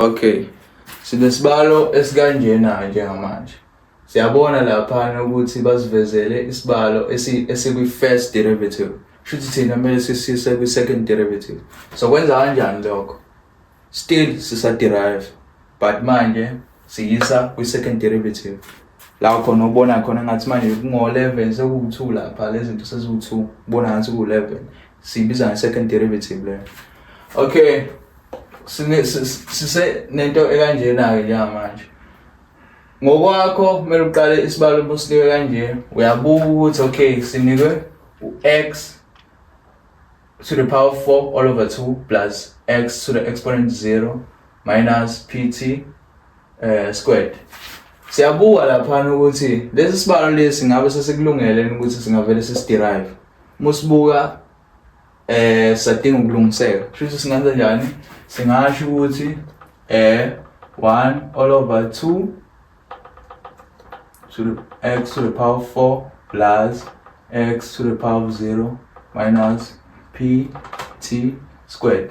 okay sinesibalo esikanjena njengamanje siyabona laphana ukuthi basivezele isibalo esikwi-first derivative shuthi thina kumele sisise kwi-second derivative so kwenza kanjani lokho still sisa-derive but manje siyisa kwi-second derivative la khona ubona khona ngathi manje kungo-11 sekuwu-2 lapha lezi zinto seziwu-2 ubona ngathi kuwu-11 siyibiza nge-second derivative leyo okay sine sise nento ekanjena-ke njengamanje ngokwakho kumele uqale isibalo businike kanje uyabuka ukuthi okay sinikwe u-x to the power of 4 all over 2 plus x to the exponent 0 minus pt uh, eh, squared siyabuka laphana ukuthi lesi sibalo lesi ngabe sesikulungele ukuthi singavele sisiderive musibuka eh sadinga ukulungiseka kusho singenza njani singasho ukuthi eh 1 all over 2 to the x to the power 4 plus x to the power of 0 minus p t squared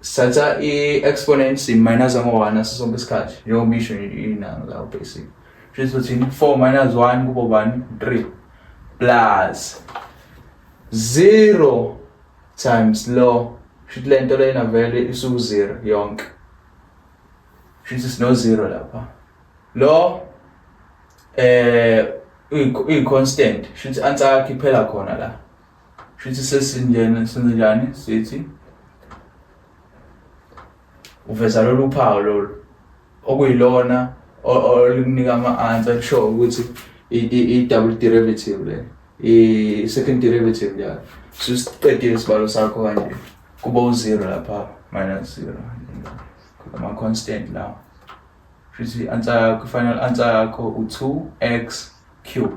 Sithatha i-exponent simayinaza ngo-1 ngaso sonke isikhathi njengoba isho inanga lawo basic kusho ukuthi 4 minus 1 kubo bani 3 plus 0 times lo kusho ukuthi le nto lena vele isuku-zero yonke kusho ukuthi sino-zero lapha lo eh uyi-constant kusho ukuthi answer yakho iphela khona la Shuthi sesinjena senze njani sithi uveza lolu phawu lolu okuyilona olikunika ama-answer kusho ukuthi i-double derivative le i-second derivative njalo sisiqedile isibalo sakho kanje kuba u-zero lapha minus zero ama-constant lawa shuthi i-answer yakho i-final answer yakho u-two x cube